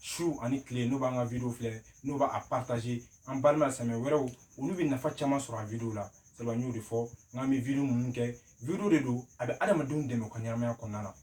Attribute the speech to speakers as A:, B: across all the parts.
A: su ani tile n'o b'an ka video filɛ n'o b'a partager an balima silamɛ wɛrɛw olu bɛ nafa caman sɔrɔ a video la sabu an y'o de fɔ n k'an bɛ video ninnu kɛ video de don a bɛ adamadenw dɛmɛ u ka ɲɛnamaya kɔnɔna na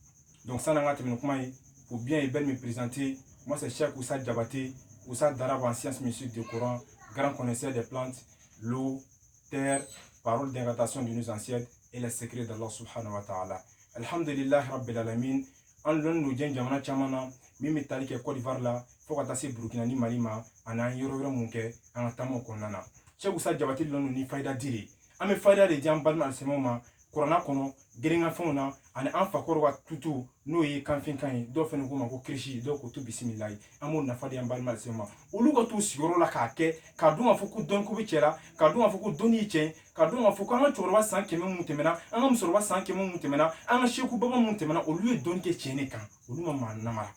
A: donc san'an ka tɛmɛ ni kuma ye pour bien et belle me présenter moi c'est Cheikh Oussa Diabaté oustaz d'arabe en sciences mystiques du Coran grand connaisseur des plantes l'eau terre parole d'incantation de nos ancêtres et les secrets d'Allah subhanahu wa ta'ala alhamdulillah rabbil alamin an dɔnnen don diɲɛ jamana caman na min bɛ tali kɛ kɔdiwari la fo ka taa se burukina ni mali ma ani an yɔrɔ wɛrɛ mun kɛ an ka taamaw kɔnɔna na Cheikh Oussa Diabaté dɔnnen don ni fayida di de an bɛ fayida de di an balima alisilamɛw ma kurana kɔnɔ girinkafɛnw na ani an fakɔrɔ ka tutu n'o ye kanfinkan ye dɔw fana k'o ma ko kirisi dɔw ko tu bisimilayi an b'o nafa di an balima silamɛ olu ka t'u sigiyɔrɔ la k'a kɛ k'a dɔn k'a fɔ ko dɔnko bɛ tiɲɛ la k'a dɔn k'a fɔ ko dɔnni ye tiɲɛ ye k'a dɔn k'a fɔ ko an ka cɛkɔrɔba san kɛmɛ mun tɛmɛna an ka musokɔrɔba san kɛmɛ mun tɛmɛna an ka seku baba mun tɛmɛna olu ye dɔnni kɛ tiɲɛ de kan olu ma maa namara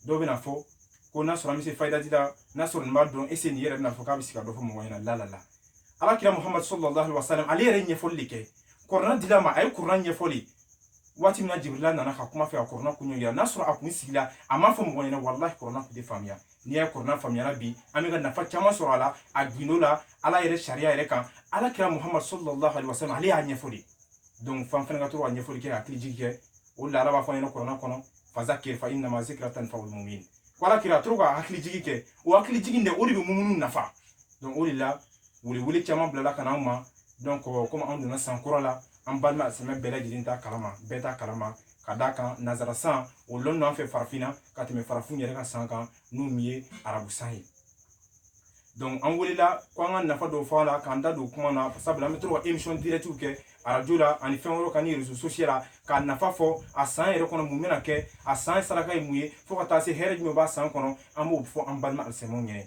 A: dɔw bɛna fɔ ko n'a sɔrɔ an bɛ se fayida di la n'a sɔrɔ nin b'a dɔn ese nin yɛrɛ bɛna fɔ k'a bɛ se ka dɔ fɔ mɔgɔ ɲɛna la ala kira muhamadu sallallahu alaihi wa sallam ale yɛrɛ ɲɛfɔli de kɛ kɔrɔna dil'a ma a ye kɔrɔna ɲɛfɔli waati min na jibirila nana ka kuma fɛ a kɔrɔna kun yira n'a sɔrɔ a kun sigila a m'a fɔ mɔgɔ ɲɛna walahi kɔrɔna kun tɛ faamuya n'i y'a ye kɔrɔna faamuyara bi an bɛ ka nafa caman sɔrɔ a la a gundo la ala yɛrɛ sariya yɛrɛ kan ala kira muhammad sallallahu alaihi wasallam ale y'a ɲɛfɔ de donc fo an fana ka to ka ɲɛfɔli kɛ hakili jigi kɛ o la ala b'a fɔ an ɲɛna kɔrɔna kɔnɔ fazakir fa innama zikra tanfaul mumin ko ala kira to ka hakili jigi kɛ o hakili jigi de o de bɛ mumunu nafa donc o de la wele wele caman bilala ka na an ma donc komi an donna san kura la an balima silamɛ bɛɛ lajɛlen t'a kalama bɛɛ t'a kalama ka d'a kan nanzara san o lɔnn'an fɛ farafinna ka tɛmɛ farafinw yɛrɛ ka san kan n'o min ye arabu san ye donc an welela ko an ka nafa dɔw fɔ a la k'an da don kuma na sabula an bɛ to ka émission directiw kɛ arajo la ani fɛn wɛrɛw kan ni réseau social la k'a nafa fɔ a san yɛrɛ kɔnɔ mun bɛna kɛ a san saraka ye mun ye fo ka taa se hɛrɛ jumɛn b'a san kɔnɔ an b'o fɔ an balima alisilamɛw ɲɛna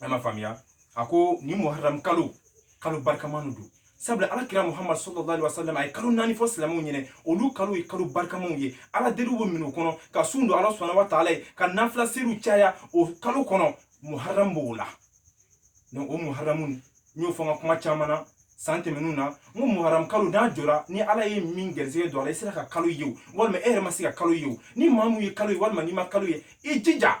A: a ma faamuya a ko nin muharram kalo kalo barikaman don sabula ala kira muhammad sallallahu alaihi wasallam a ye kalo naani fɔ silamɛw ɲɛna olu kalo ye kalo barikamanw ye ala deliw bɛ minɛ o kɔnɔ ka sun don ala subhanahu wa taala ye ka nafila seriw caya o kalo kɔnɔ muharram b'o la donc o muharramu n y'o fɔ n ka kuma caman na san tɛmɛnenw na n ko muharam kalo n'a jɔra ni ala ye min gɛrisigɛ don a la i sera ka kalo ye o walima e yɛrɛ ma se ka kalo ye o ni maa mun ye kalo ye walima n'i ma kalo ye i jija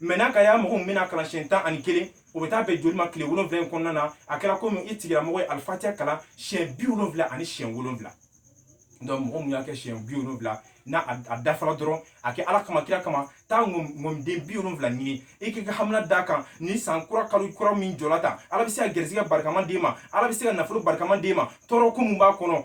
A: mais n'a ka y'a mɔgɔ min bɛna kalan siɲɛ tan ani kelen o bɛ taa bɛn joli ma tile wolonwula in kɔnɔna na a kɛra komi i tigilamɔgɔ ye alifatiya kalan siɲɛ bi wolonwula ani siɲɛ wolonwula donc mɔgɔ min y'a kɛ siɲɛ bi wolonwula n'a a dafara dɔrɔn a kɛ ala kama kira kama taa ŋɔmiden bi wolonwula ɲini i k'i ka hamina d'a kan ni san kura kalo kura min jɔla tan ala bɛ se ka gɛrisigɛ barikaman d'e ma ala bɛ se ka nafolo barikaman d'e ma tɔɔrɔ ko min b'a kɔnɔ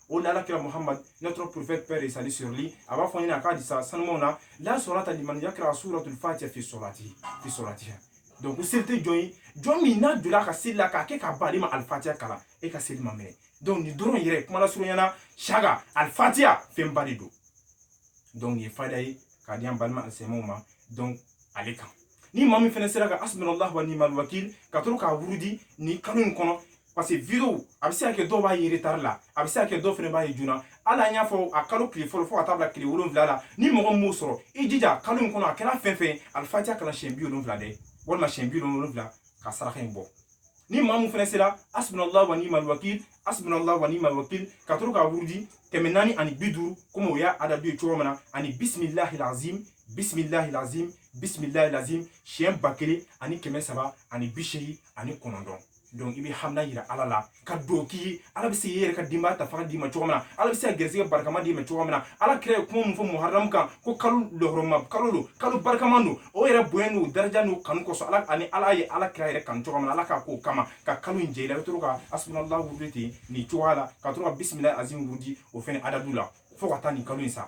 A: o de ala kira muhammad notre prophète paix et salut sur lui a b'a fɔ ɲɛna a ka hadisa sanumanw na la salata liman yakra suratul fatiha fi salati fi salatiha donc ko seli tɛ jɔn ye jɔn min n'a donna a ka seli la k'a kɛ k'a ban ale ma alifatiya kalan e ka seli ma minɛ donc nin dɔrɔn yɛrɛ kuma lasurunya na saga alifatiya fɛnba de don donc nin ye fayida ye k'a di an balima alisilamɛw ma donc ale kan ni maa min fɛnɛ sera ka hasbunallahu wa ni'mal wakil ka to k'a wurudi nin kalo in kɔnɔ parce que vidéo a bɛ se ka kɛ dɔw b'a ye retard la a bɛ se ka kɛ dɔw fɛnɛ b'a ye joona hali an y'a fɔ a kalo tile fɔlɔ fo ka taa bila tile wolonwula la ni mɔgɔ min m'o sɔrɔ i jija kalo in kɔnɔ a kɛra fɛn fɛn ye alifatiya kalan siɲɛ bi wolonwula dɛ walima siɲɛ bi wolonwula ka saraka in bɔ ni maa min fɛnɛ sera hasbunallahu wa ni'mal wakil hasbunallahu wa ni'mal wakil ka to k'a wurudi kɛmɛ naani ani bi duuru komi o y'a adadu ye cogo min na ani bisimilahi lazim bisimilahi lazim bisimilahi lazim siɲɛ ba kelen ani kɛmɛ saba ani bi seegin ani kɔnɔntɔn donc i b'i hamina yira ala la ka dɔ k'i ye ala bɛ se k'i yɛrɛ ka denbaya ta fanga d'i ma cogo min na ala bɛ se ka gɛrɛsɛgɛ barikama d'i ma cogo min na ala kira ye kuma min fɔ muharamu kan ko kalo lahɔrɔma kalo don kalo barikama don o yɛrɛ bonya n'o daraja n'o kanu kosɔn ala ani ala ye ala kira yɛrɛ kanu cogo min na ala k'a k'o kama ka kalo in jɛ i la i bɛ to ka hasbunallahu wurudi ten nin cogoya la ka to ka bisimilahi azim wurudi o fɛnɛ adadu la fo ka taa nin kalo in sa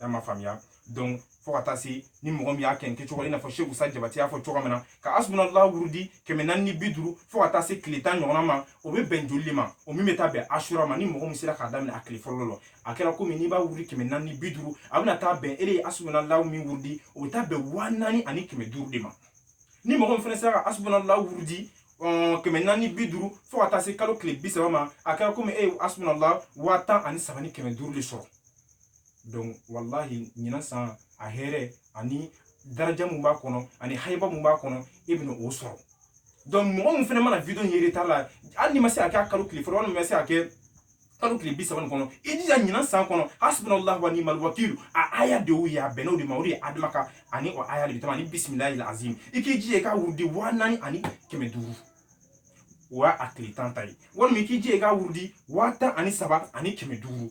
A: i m'a faamuya donc fo ka taa se ni mɔgɔ min y'a kɛ nin kɛcogo la i n'a fɔ shek usa jabate y'a fɔ cogo min na ka hasbunallahu wurudi kɛmɛ naani ni bi duuru fo ka taa se tile tan ɲɔgɔnna ma o bɛ bɛn joli de ma o min bɛ taa bɛn asura ma ni mɔgɔ min sera k'a daminɛ a tile fɔlɔ la a kɛra komi n'i b'a wurudi kɛmɛ naani ni bi duuru a bɛna taa bɛn e de ye hasbunallahu min wurudi o bɛ taa bɛn waa naani ani kɛmɛ duuru de ma ni mɔgɔ min fɛnɛ sera ka hasbunallahu wurudi kɛmɛ naani bi duuru fo ka taa se kalo tile bi saba ma a kɛra komi e ye hasbunallahu waa tan ani saba ni kɛmɛ duuru de sɔrɔ wallahi ɲinan san a hɛrɛ ani daraja mun b'a kɔnɔ ani hayiba mun b'a kɔnɔ e bɛna o sɔrɔ mɔgɔ min fɛnɛ mana vidéo in ye retard la hali n'i ma se ka kɛ kalo tile fɔlɔ walima ma se ka kɛ kalo tile bi saba nin kɔnɔ i jija ɲinan san kɔnɔ hasbunallahu wa ni'mal wakilu a aya de y'o ye a bɛnn'o de ma o de ye adama ka ani o aya de bɛ tɛmɛ ani bisimilahi azim i k'i jija i k'a wurudi waa naani ani kɛmɛ duuru o y'a tile tan ta ye walima i k'i jija i k'a wurudi waa tan ani saba ani kɛmɛ duuru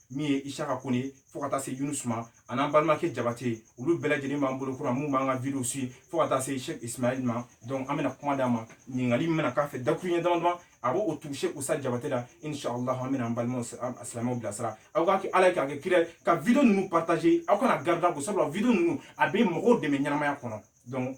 A: min ye isaka kone fo ka taa se yunusu ma ani an balimakɛ jabate olu bɛɛ lajɛlen b'an bolo kɔrɔ mun b'an ka vidéo suivre fo ka taa se shek ismail ma donc an bɛna kuma d'a ma ɲininkali min bɛna k'a fɛ dakuruɲɛ dama dama a b'o tugu shek usa jabate la inshallah an bɛna an balima alisilamɛw bilasira aw k'a kɛ ala ye k'a kɛ kira ka vidéo ninnu partager aw kan'a garder ko sabula vidéo ninnu a bɛ mɔgɔw dɛmɛ ɲɛnamaya kɔnɔ donc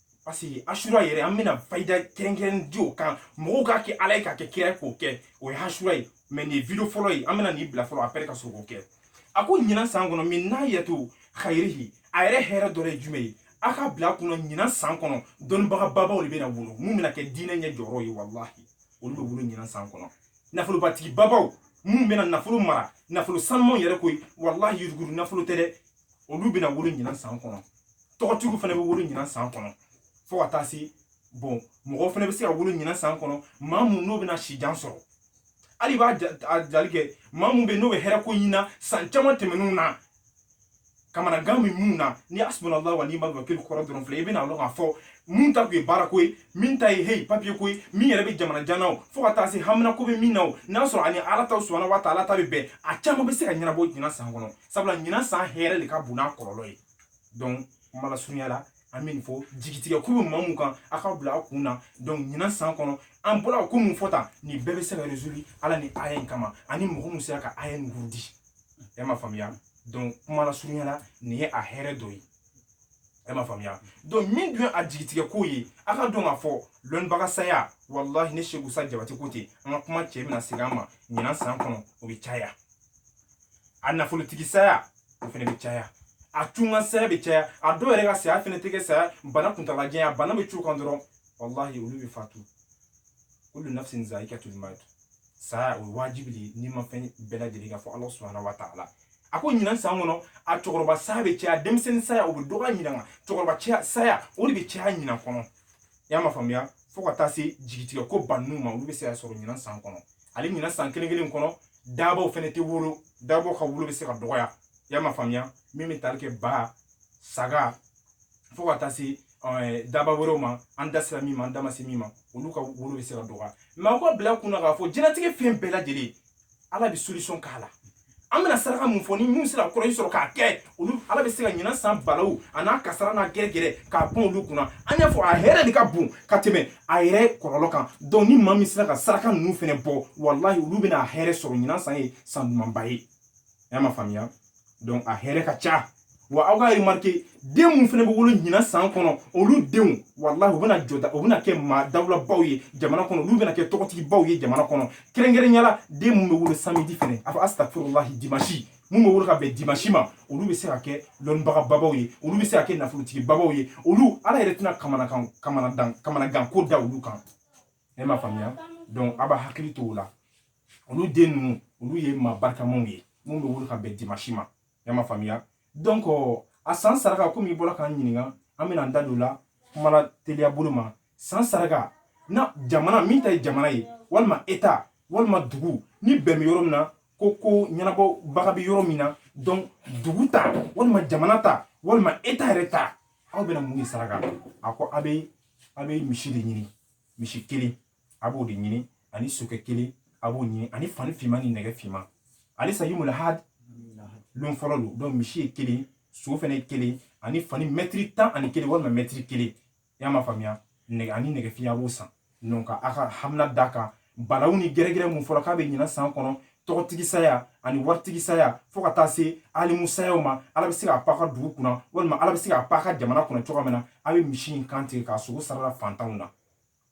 A: parce que asura yɛrɛ an bɛna fayida kɛrɛnkɛrɛn di o kan mɔgɔw k'a kɛ ala ye k'a kɛ kira ye k'o kɛ o ye asura ye mais nin ye video fɔlɔ ye an bɛna nin bila fɔlɔ après ka sɔrɔ k'o kɛ a ko ɲinan san kɔnɔ min n'a yɛto hayirihi a yɛrɛ hɛrɛ dɔ ye jumɛn ye a ka bila kunna ɲinan san kɔnɔ dɔnnibaga babaw de bɛna wolo mun bɛna kɛ diinɛ ɲɛ jɔyɔrɔ ye walahi olu bɛ wolo ɲinan san kɔnɔ nafolobatigi babaw mun bɛna nafolo mara nafolo sanumanw yɛrɛ koyi walahi yuruguru nafolo tɛ dɛ olu bɛna wolo ɲinan san kɔnɔ tɔgɔtigiw fana bɛ wolo ɲinan san kɔnɔ fo ka taa se bon mɔgɔ fana bɛ se ka wolo ɲinan san kɔnɔ maa mun n'o bɛna sijan sɔrɔ hali b'a jali kɛ maa mun bɛ n'o bɛ hɛrɛ ko ɲinan san caman tɛmɛnenw na kamanagan bɛ mun na ni hasibunalahu wa niimal wakilu kɔrɔ dɔrɔn filɛ i bɛna dɔn k'a fɔ mun ta tun ye baara ko ye min ta ye heyi papiye ko ye min yɛrɛ bɛ jamana jan na o fo ka taa se hamina ko bɛ min na o n'a sɔrɔ ani ala ta subahana wa taala ta bɛ bɛn a caman bɛ se ka ɲɛnabɔ ɲinan san kɔnɔ sabula ɲinan san hɛrɛ de ka bon n'a kɔlɔlɔ ye donc kuma lasurunya la an bɛ nin fɔ jigitigɛ ko bɛ maa mun kan a ka bila a kun na donc ɲinan san kɔnɔ an bɔra ko mun fɔ tan nin bɛɛ bɛ se ka résoudre ala ni aya in kama ani mɔgɔ mun sera ka aya in wurudi e ma faamuya donc kuma lasurunya la nin ye a hɛrɛ dɔ ye e ma faamuya donc min dun ye a jigitigɛ ko ye a ka dɔn k'a fɔ lɔnnibaga saya walahi ne seku sa jabatɛ ko ten an ka kuma cɛ bɛna segin an ma ɲinan san kɔnɔ o bɛ caya a nafolotigi saya o fana bɛ caya a tunga saya bɛ caya a dɔw yɛrɛ ka saya fana tɛ kɛ saya bana kuntalajanya bana bɛ cun u kan dɔrɔn walahi olu bɛ fatu kulu nafsin zayikatul mawuti saya o ye wajibi de ye nimafɛn bɛɛ lajɛlen kan fo ala subahana wa taala a ko ɲinan san kɔnɔ a cɛkɔrɔba saya bɛ caya denmisɛnnin saya o bɛ dɔgɔya ɲinan nka cɛkɔrɔba saya o de bɛ caya ɲinan kɔnɔ i y'a ma faamuya fo ka taa se jigitigɛ koba ninnu ma olu bɛ se ka sɔrɔ ɲinan san kɔnɔ ale ɲinan san kelen kelen kɔnɔ daabaw fɛnɛ tɛ wolo daabaw ka wolo bɛ se ka dɔgɔya i y'a ma faamuya min bɛ tali kɛ ba saga fo ka taa se daaba wɛrɛw ma an da sera min ma an da ma se min ma olu ka wolo bɛ se ka dɔgɔya mais aw ka bila kunna k'a fɔ jɛnatigɛ fɛn bɛɛ lajɛlen ala bɛ solution k'a la an bɛna saraka mun fɔ ni minnu sera kɔrɔ in sɔrɔ k'a kɛ olu ala bɛ se ka ɲinan san balaw a n'a kasara n'a gɛrɛgɛrɛ k'a pan olu kunna an y'a fɔ a hɛrɛ de ka bon ka tɛmɛ a yɛrɛ kɔlɔlɔ kan donc ni maa min sera ka saraka ninnu fɛnɛ bɔ walahi olu bɛna a hɛrɛ sɔrɔ ɲinan san ye san dumanba ye y'a ma faamuya donc a hɛrɛ ka ca wa aw ka remarquer den minnu fana bɛ wolo ɲinan san kɔnɔ olu denw walahi u bɛna jɔda u bɛna kɛ maa dawulabaw ye jamana kɔnɔ olu bɛna kɛ tɔgɔtigibaw ye jamana kɔnɔ kɛrɛnkɛrɛnya la den minnu bɛ wolo samedi fɛnɛ a fɔ astafurulahi dimansi mun bɛ wolo ka bɛn dimansi ma olu bɛ se ka kɛ lɔnnibagababaw ye olu bɛ se ka kɛ nafolotigibabaw ye olu ala yɛrɛ tɛna kamanakan kamanadan kamanaganko da olu kan e ma faamuya donc a b'a hakili to o la olu den ninnu olu ye maa barikamanw ye minnu bɛ wolo ka bɛn dimansi ma e ma faamuya donc a san saraka komi i bɔra k'an ɲininka an bɛna an da don o la kuma la teliya bolo ma san saraka na jamana min ta ye jamana ye walima eta walima dugu ni bɛn bɛ yɔrɔ min na ko ko ɲɛnabɔbaga bɛ yɔrɔ min na donc dugu ta walima jamana ta walima eta yɛrɛ ta aw bɛna mun de saraka a ko a bɛ a bɛ misi de ɲini misi kelen a b'o de ɲini ani sokɛ kelen a b'o ɲini ani fani finman ni nɛgɛ finman ale sa yawmul had lon fɔlɔ don donc misi ye kelen so fɛnɛ ye kelen ani fani mɛtiri tan ani kelen walima mɛtiri kelen y'a ma faamuya nɛgɛ ani nɛgɛ fin a b'o san donc ka a ka hamina da kan balaw ni gɛrɛgɛrɛ mun fɔra k'a bɛ ɲinan san kɔnɔ tɔgɔtigi saya ani waritigi saya fɔɔ ka taa se alimu sayaw ma ala bɛ se k'a paka dugu kunna walima ala bɛ se k'a paka jamana kunna cogoya min na a bɛ misi in kan tigɛ k'a sogo sarala fantanw na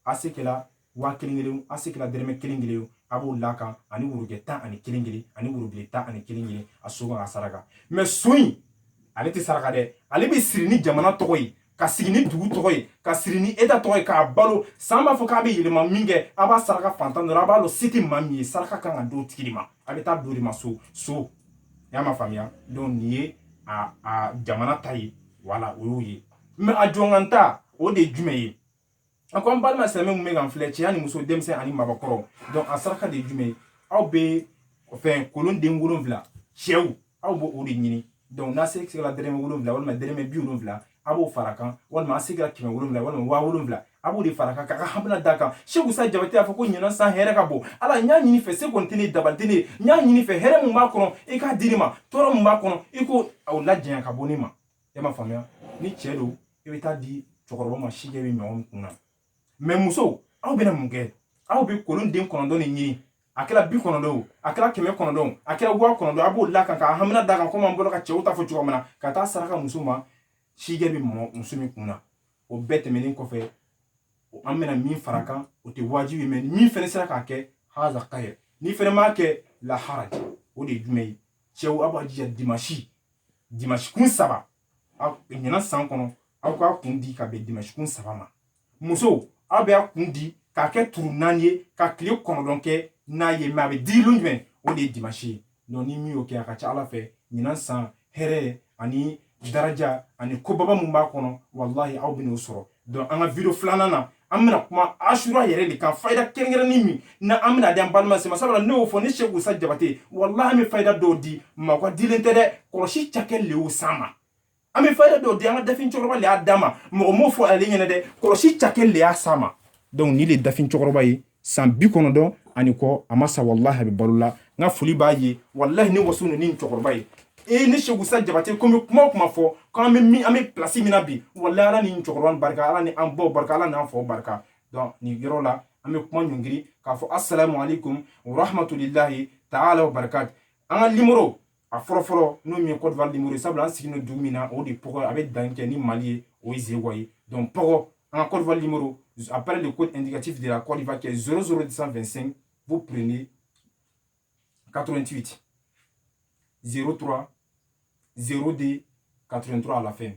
A: a se kɛla waa kelen kelen a se kɛla dɛrɛmɛ kelen kelen a b'o la kan ani worojɛ tan ani kelen kelen ani worobilen tan ani kelen kelen a sogo kan k'a saraka mɛ so in ale tɛ saraka dɛ ale bɛ siri ni jamana tɔgɔ ye ka sigi ni dugu tɔgɔ ye ka siri ni eta tɔgɔ ye k'a balo san b'a fɔ k'a bɛ yɛlɛma minkɛ a b'a saraka fantan dɔ ra a b'a lɔn se tɛ maa min ye saraka kan ka d'o tigi de ma a bɛ taa d'o de ma so so y'a ma faamuya donc nin ye a a jamana ta ye wala o y'o ye mɛ a jɔnganta o de ye jumɛn ye a ko an balima silamɛ mun bɛ k'an filɛ cɛ ani muso denmisɛn ani maabakɔrɔ donc a saraka de ye jumɛn ye aw bɛ fɛn kolon den wolonwula cɛw aw b'o o de ɲini donc n'a se sigila dɛrɛmɛ wolonwula walima dɛrɛmɛ bi wolonwula a b'o fara kan walima a sigira kɛmɛ wolonwula walima waa wolonwula a b'o de fara kan k'a ka hamina d'a kan seku sa jabate y'a fɔ ko ɲinan san hɛrɛ ka bon ala n y'a ɲini fɛ se kɔni tɛ ne dabali tɛ ne ye n y'a ɲini fɛ hɛrɛ min b'a kɔnɔ i k'a di ne ma tɔɔrɔ min b'a kɔnɔ i k'o lajanya ka bɔ ne ma e ma faamuya ni cɛ don i bɛ taa di cɛkɔrɔba ma si jɛ bɛ mɔgɔ min kun na mɛ muso aw bɛna mun kɛ aw bɛ kolon den kɔnɔntɔn de ɲini a kɛra bi kɔnɔntɔn a kɛra kɛmɛ kɔnɔntɔn a kɛra waa kɔnɔntɔn a b'o la kan ka hamina da kan komi an bɔra ka cɛw ta fɔ cogo min na ka taa saraka muso ma si jɛ bɛ mɔgɔ muso min kun na o bɛɛ tɛmɛnen kɔfɛ an bɛna min fara kan o tɛ wajibi mɛ min fana sera k'a kɛ haza khayr n'i fana m'a kɛ la haraj o de ye jumɛn ye cɛw aw b'a jija dimasi dimanche kun saba aw ɲinan san kɔnɔ aw k'a kun di ka bɛn dimanche kun saba ma musow aw bɛ a kun di k'a kɛ turu naani ye ka tile kɔnɔntɔn kɛ n'a ye mɛ a bɛ di lon jumɛn o de ye dimanche ye donc ni min y'o kɛ a ka ca ala fɛ ɲinan san hɛrɛ ani daraja ani kobaba mun b'a kɔnɔ walahi aw bɛn'o sɔrɔ donc an ka video filanan na an bɛna kuma asura yɛrɛ de kan fayida kɛrɛnkɛrɛnni min na an bɛna di an balima sema sabula ne y'o fɔ ne seku usa jabate walahi an bɛ fayida dɔw di maa ka dilen tɛ dɛ kɔlɔsi cakɛ le y'o san ma an bɛ fayida dɔw di an ka dafin cɛkɔrɔba le y'a d'a ma mɔgɔ m'o fɔ ale ɲɛna dɛ kɔlɔsi cakɛ le y'a san ma donc ni le dafin cɛkɔrɔba ye san bi kɔnɔntɔn ani kɔ a ma sa walahi a bɛ balo la n ka foli b'a ye walahi ne waso ninnu ni cɛkɔrɔba ye e ne seku usa jabate ko bɛ kuma kuma fɔ k'an bɛ min an bɛ pilasi min na bi walahi ala ni cɛkɔrɔba barika ala ni an baw barika ala n'an faw barika donc nin yɔrɔ la an bɛ kuma ɲɔngiri k'a fɔ asalamu alaikum warahmatulilahi taala wa barakati an ka nimoro a fɔlɔ fɔlɔ n'o min ye Cote d'Ivoire nimoro ye sabula an sigilen don dugu min na o de pɔgɔ a bɛ dan kɛ ni Mali ye o ye Zewa ye donc pɔgɔ an ka Cote d'Ivoire nimoro après le code indicatif de la Cote d'Ivoire qui est 00225 vous prenez 88 03 02 83 à la fin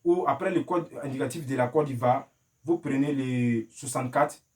A: ou après le code indicatif de la Cote d'Ivoire vous prenez le 64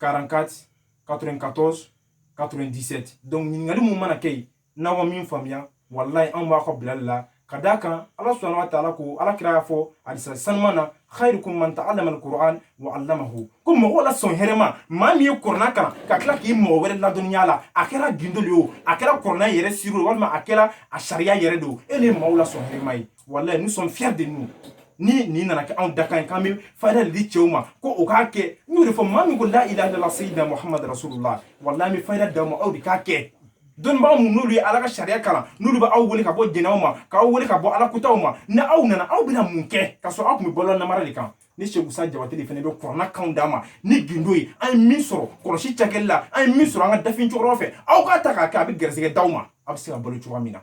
A: 44 94 97 donc ɲininkali mun mana kɛ yen n'aw ma min faamuya walayi anw b'a ka bilali la ka d'a kan ala subahana wa taala ko ala kira y'a fɔ hadisa saniman na khairukum man ta'allama alquran wa 'allamahu ko mɔgɔ la sɔn hɛrɛma maa min ye kɔrɔna kalan ka tila k'i mɔgɔ wɛrɛ ladɔnniya la a kɛra gindo de ye o a kɛra kɔrɔna yɛrɛ siro walima a kɛra a sariya yɛrɛ de o e le maaw la sɔn hɛrɛma ye walayi nous sommes fiers de nous ni nin nana kɛ anw dakan ye k'an bɛ fayida de di cɛw ma ko o k'a kɛ n y'o de fɔ maa min ko la ilaha illallah sayyidina muhammad rasulullah walayi an bɛ fayida d'aw ma aw de k'a kɛ dɔnnibaga minnu n'olu ye ala ka sariya kalan n'olu bɛ aw wele ka bɔ jɛnɛw ma k'aw wele ka bɔ ala kotaw ma ni aw nana aw bɛna mun kɛ ka sɔrɔ aw tun bɛ bɔlɔ namara de kan ne seku usa jabate de fana bɛ kɔrɔna kanw d'a ma ni gindo ye an ye min sɔrɔ kɔlɔsi cakɛli la an ye min sɔrɔ an ka dafin cɛkɔrɔba fɛ aw k'a ta k'a kɛ a bɛ gɛrɛsɛgɛ d'aw ma aw bɛ se ka balo cogoya min na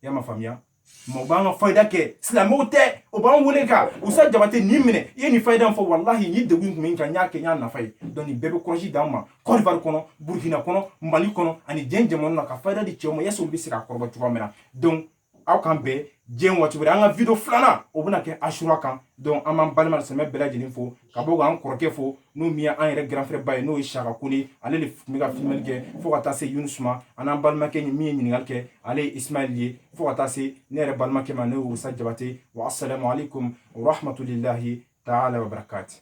A: y'a ma faamuya mɔgɔ b'an ka fayida kɛ silamɛw tɛ o b'an wele ko usa jabate nin minɛ i ye nin fayida fɔ walahi ni degun tun bɛ n kan n y'a kɛ n y'a nafa ye donc nin bɛɛ bɛ kɔrɔsi d'an ma Cote d'Ivoire kɔnɔ burkina kɔnɔ mali kɔnɔ ani diɲɛ jamana na ka fayida di cɛw ma yaasa olu bɛ se ka kɔrɔbɔ cogoya min na donc aw k'an bɛn diɲɛ waati wɛrɛ an ka video filanan o bɛna kɛ asura kan donc an b'an balima silamɛ bɛɛ lajɛlen fo ka bɔ k'an kɔrɔkɛ fo n'o min an yɛrɛ grand frère ba ye n'o ye siaka kone ale de tun bɛ ka filmɛli kɛ fo ka taa se yunisu ma ani an balimakɛ min ye ɲininkali kɛ ale ye ismail ye fo ka taa se ne yɛrɛ balimakɛ ma ne ye usa jabate wa asalamu alaikum warahmatulilahi taala wabarakati